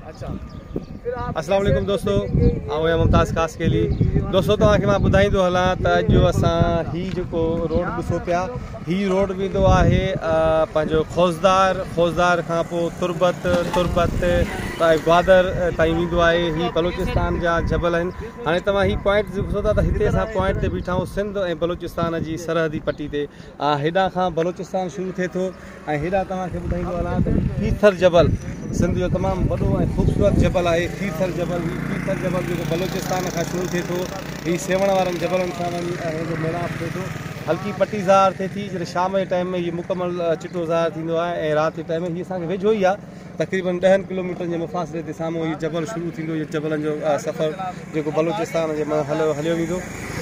السلام عليڪم دوستو آئون آهيان ممتاز خاصخيلي دوستو توهان کي مان ٻڌائيندو هلان ته اڄ اسان هي جيڪو روڊ ڏسو پيا هي روڊ ويندو آهي پنهنجو خوزدار خوزدار کان پوء تربت تربت تائين گوادر تائين ويندو آهي هي بلوچستان جا جبل آهن هاڻي توهان هي پوائنٽ ڏسو ٿا ته هتي اسان پوائنٽ تي بيٺا آهيون سنڌ ۽ بلوچستان جي سرحدي پٽي تي هيڏان کان بلوچستان شروع ٿئي ٿو ۽ هيڏانهن توهان کي ٻڌائيندو هلان ته هي کيرٿر جبل سنڌ جو تمام وڏو ۽ خوبصورت جبل آهي کيرٿر جبل هي کيرٿر جبل جيڪو بلوچستان کان شروع ٿئي ٿو هي سيوهڻ وارن جبلن سان وڃي هن جو ميلاپ ٿئي ٿو هلڪي پٽي ظاهر ٿئي ٿي جڏهن شام جي ٽائيم ۾ هي مڪمل چٽو ظاهر ٿيندو آهي ۽ رات جي ٽائيم ۾ هي اسان کي ويجهو ئي آهي تقريبن ڏهن ڪلوميٽرن جي مفاصلي تي سامهون هي جبل شروع ٿيندو. هي جبلن جو سفر جيڪو بلوچستان جي منجهن هليو ويندو.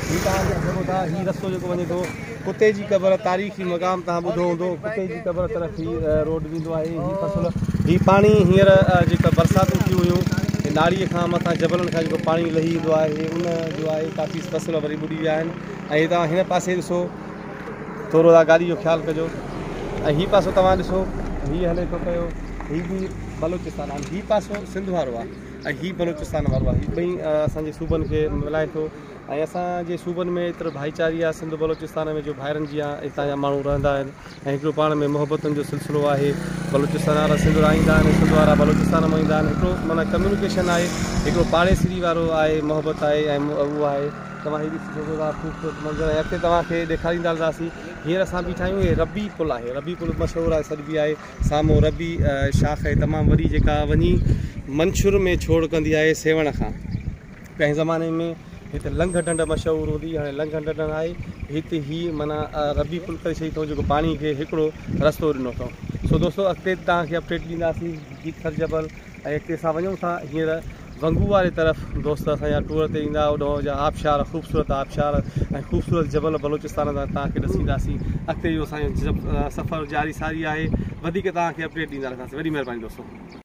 جي توهان ڏسي سگهو ٿا هي رستو جيڪو وڃي ٿو ڪتي جي قبر تاريخي مقام توهان ٻڌو هوندو ڪتي جي قبر طرف هي روڊ ويندو آهي هي فصل هي پاڻي هينئر جيڪا برساتون ٿيون هيون هي ناڙي کان مٿان جبلن کان جيڪو پاڻي لهي ايندو آهي ان جو آهي ڪافي فصل وري ٻڏي ويا آهن ۽ توهان هن پاسي ڏسو ٿورو اها ڳالهه جو خيال ڪجو ۽ هي پاسو توهان ڏسو هي هلي ٿو پيو هي به بلوچستان آهن هي پاسو سنڌ وارو آهي ۽ هي بلوچستان وارو آهي هي ٻئي اسانجي صوبن کي ملائي ٿو ۽ اسانجي صوبن ۾ ايترو ڀائيچاري آهي سنڌ بلوچستان ۾ جو ڀائرن جي هتان جا ماڻهو رهندا آهن ۽ هڪڙو پاڻ ۾ محبتن جو سلسلو آهي بلوچستان وارا سنڌ لاء ايندا آهن سنڌ وارا بلوچستان ۾ ايندا آهن هڪڙو معنيٰ ڪميونيڪيشن آهي هڪڙو پاڙيسري وارو آهي محبت آهي ۽ اهو آهي توهان هي ڏسي سگهو ٿا خوبصورت منظر ۽ اڳتي توهان کي ڏيکاريندا هلنداسين هينئر اسان بيٺا آهيون هي ربي پل آهي ربي پل مشهور آهي سڏبي آهي سامهون ربي شاخ آهي تمام وڏي جيڪا وڃي منڇر ۾ ڇوڙ ڪندي آهي سيوهڻ کان ڪنهن زماني ۾ هت لنگهه ڍنڍ مشهور هوندي هاڻي لنگهه ڍنڍ نه آهي هت هي معنی ربي پل ڪري ڇڏي اٿئون جيڪو پاڻي کي هڪڙو رستو ڏنو اٿئون سو دوستو اڳتي توهان کي اپڊيٽ ڏينداسين جيتخر جبل ۽ اڳتي اسان وڃون ٿا هينئر ونگو واري طرف دوست اسان جا ٽوئر تي ايندا اوڏهون جا آبشار خوبصورت آبشار ۽ خوبصورت جبل بلوچستان جا توهان کي ڏسينداسين اڳتي جو اسان جو سفر جاري ساري آهي وڌيڪ توهان کي اپڊيٽ ڏيندا رهنداسين وڏي مهرباني دوستو.